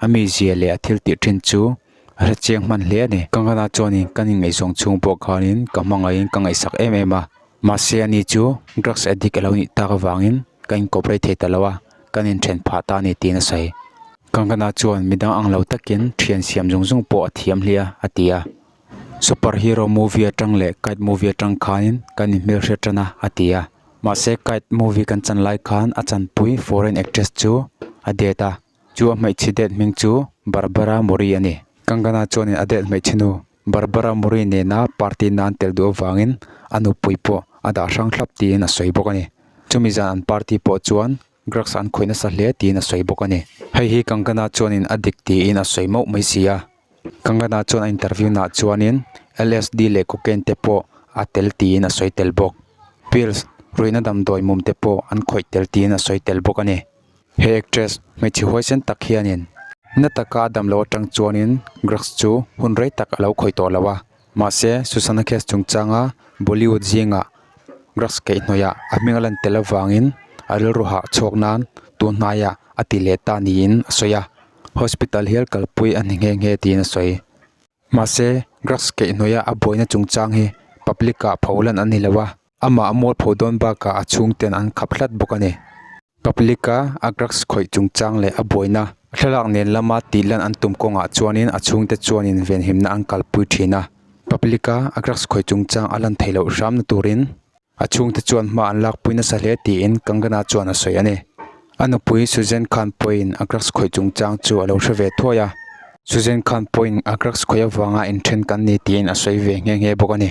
A mizia leh a thil tih ṭhin chu a hrechiang hman hle a ni. Kangana chuanin kan inngaihsawng chhung pawh khanin ka hmangaihin ka ngaihsak em em a. Mahse a ni chu drugs addict a lo nih tak avangin ka incorporate thei ta lo a, kan inthen phah ta a ni tiin a sawi. Kangana chuan midang ang lo takin ṭhian siam zung zung pawh a thiam hliah a, a ti a. Superhero movie aṭang leh kite movie aṭang khanin kan inhmel hriat ṭan a, a ti a. Mahse kite movie kan chan lai khan a chanpui foreign actress chu a det a. Chu a hmeichhe date hming chu Barbara Murray a ni. Kangana chuanin a date hmeichhe nu Barbara Murray nena party nan tel duh avangin a nupui pawh a dah hrang thlap tiin a sawi bawk a ni. Chumi zan an party pawh chuan drugs an khawih nasa hle tiin a sawi bawk a ni. Hei hi Kangana chuanin a dik tiin a sawi mauh mai si a. Kangana chuan a interview naah chuanin LSD leh cocaine te pawh a tel tiin a sawi tel bawk. Pills, ruihna damdawi mum te pawh an khawih tel tiin a sawi tel bawk a ni. He actress hmeichhe huaisen tak hianin. Natakha a damlo atang chuanin drugs chu hun rei tak a lo khawih tawh lo a. Mahse, Susana case chungchanga Bollywood zinga drugs keih hnawihah a hming a lan tel avangin a rilru hah chhuak nan tun hnaia a ti leh ta niin a sawi a. Hospital hial kalpui a ni nghe nghe tiin a sawi. Mahse, drugs keih hnawihah a buaina chungchang hi public-ah pho lan a ni lo a, Amah a mawlpho dawn bakah a chhungte'n an khap hlat bawk a ni. Public-a a drugs khawih chungchang leh a buaina thlalak nen lama tihlan an tum kawngah chuanin a chhungte chuan invenhimna an kalpui thin a. Public-a a drugs khawih chungchang a lan thei loh hramna turin a chhungte chuan hma an lakpui nasa hle tiin Kangana chuan a sawi a ni. A nupui Susan Khan Poy-in a drugs khawih chungchang chu a lo hre ve thuai a. Susan Khan Poy-in a drugs khawih avanga inthen kan ni tiin a sawi ve nghe nghe bawk a ni.